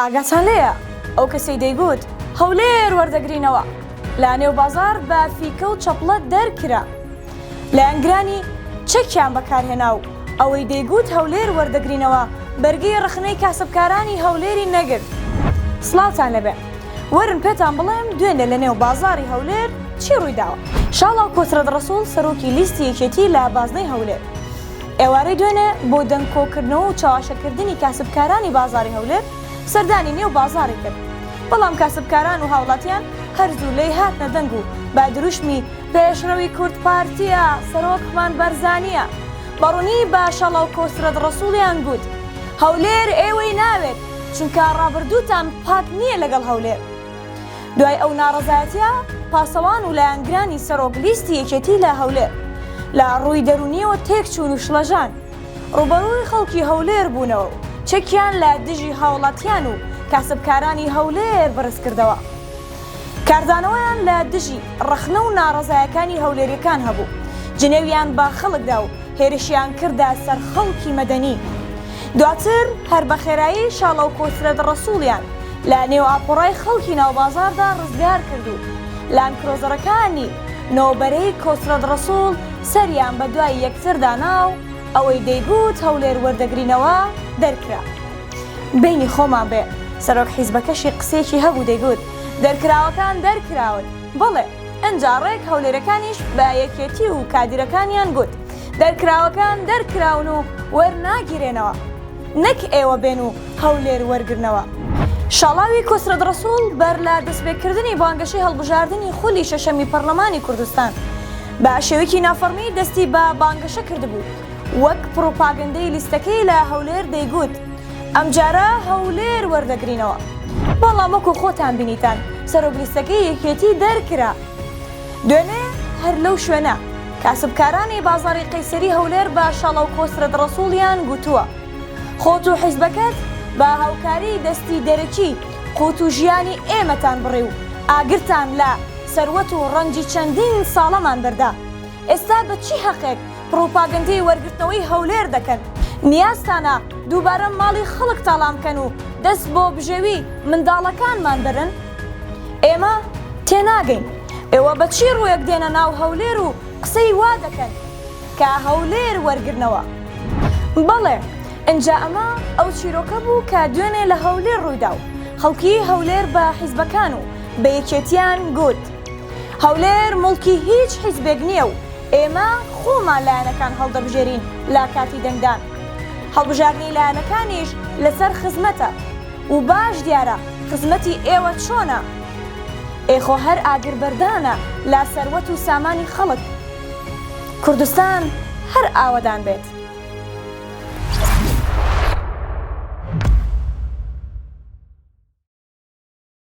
ئاگاتان لێیە ئەو کەسەی دەیگوت هەولێر وەردەگرینەوە لە نێو بازاڕ بە فیکە و چەپڵە دەرکرا لایەنگرانی چەکیان بەکارهێنا و ئەوەی دەیگوت هەولێر وەردەگرینەوە بەرگەی ڕەخنەی کاسبکارانی هەولێری نەگرت سڵاوتان لێبێ وەرن پێتان بڵێم دوێنێ لە نێو بازاڕی هەولێر چی ڕوویداوە. شاڵاو کۆترەت ڕەسوڵ سەرۆکی لیستی یەکێتی لە بازنەی هەولێر. ئێوارەی دوێنێ بۆ دەنگ کۆکردنەوە و چەواشەکردنی کاسبکارانی بازاڕی هەولێر سەردانی نێو بازاڕی کرد، بەڵام کاسبکاران و هاوڵاتیان هەر زوو لێی هاتنە دەنگ و بە دروشمی پێشڕەوی کوورد پارتیە، سەرۆکمان بەرزانیە، بەڕونی بە شەڵەو کۆسرەت ڕەسوڵیان گووت، هەولێر ئێوەی ناوێت، چونکە ڕابردووتان پاک نیە لەگەڵ هەولێر. دوای ئەو ناڕەزایەتیە پاسەوان و لایەنگرانی سەرۆک لیستی یەکێتی لە هەولێر لە ڕووی دەرونیەوە تێک چوون و شڵەژان ڕوبەڕووی خەڵکی هەولێر بوونەوە و چەکیان لە دژی هاوڵاتیان و کاسبکارانی هەولێر بەرز کردەوە. کاردانەوەیان لە دژی ڕەخنە و ناڕەزایەکانی هەولێریەکان هەبوو جنێویان بە خەڵکدا و هێرشیان کردە سەر خەڵکی مەدەنی. دواتر هەر بە خێرایی شاڵە و کۆسرەت ڕەسووڵیان لە نێو ئاپۆڕای خەڵکی ناو بازاڕدا ڕزگار کرد و لاندکرۆزەرەکانی نۆبەرەی کۆسرەت ڕەسووڵ سەریان بە دوای یەکتر دانا و ئەوەی دەیگوت هەولێر وەردەگرینەوە دەرکرا. بەینی خۆمان بێ، سەرۆک حیزبەکەشی قسەیەکی هەبوو دەیگوت دەرکراوەکان دەرکراون، بەڵێ! ئنجا ڕێک هەولێرەکانیش بە یەکێتی و کادیرەکانیان گوت دەرکراوەکان دەرکراون و وەرناگیرێنەوە نەک ئێوە بێن و هەولێر وەرگرنەوە. شاڵاوی کۆسرەت ڕەسوڵ بەر لە دەستپێکردنی بانگەشەی هەڵبژاردنی خولی شەشەمی پەڕلەمانی کوردستان بە شێوەیکی نافەڕمی دەستی بە بانگەشە کردبوو وەک پڕوپاگەندەی لیستەکەی لە هەولێر دەیگوت، ئەمجارە هەولێر وەردەگرینەوە بەڵام وەکو خۆتان بینیتان سەرۆک لیستەکەی یەکێتی دەرکرا دوێنێ هەر لەو شوێنە کاسبکارانی بازاڕی قەیسەری هەولێر بە شاڵاو کۆسرەت ڕەسوڵیان گوتووە خۆت و حیزبەکەت بە هاوکاری دەستی دەرەکی قوت و ژیانی ئێمەتان بڕی و ئاگرتان لە سەروەت و ڕەنجی چەندین ساڵەمان بەردا ئێستا بە چی هەقێک پڕوپاگەندەی وەرگرتنەوەی هەولێر دەکەن، نیازتانە دووبارە ماڵی خەڵک تاڵان بکەن و دەست بۆ بژێوی منداڵەکانمان بەرن؟ ئێمە تێناگەین ئێوە بە چی ڕووێک دێنە ناو هەولێر و قسەی وا دەکەن کە هەولێر وەرگرنەوە؟ بەڵێ ئنجا ئەمە ئەو چیرۆکە بوو کە دوێنێ لە هەولێر ڕوویدا و خەڵکی هەولێر بە حیزبەکان و بە یەکێتیان گوت هەولێر موڵکی هیچ حیزبێک نییە و ئێمە خۆمان لایەنەکان هەڵدەبژێرین لە کاتی دەنگدان. هەڵبژاردنی لایەنەکانیش لەسەر خزمەتە و باش دیارە خزمەتی ئێوە چۆنە. ئێ خۆ هەر ئاگربەردانە لە سەروەت و سامانی خەڵک. کوردستان هەر ئاوەدان بێت.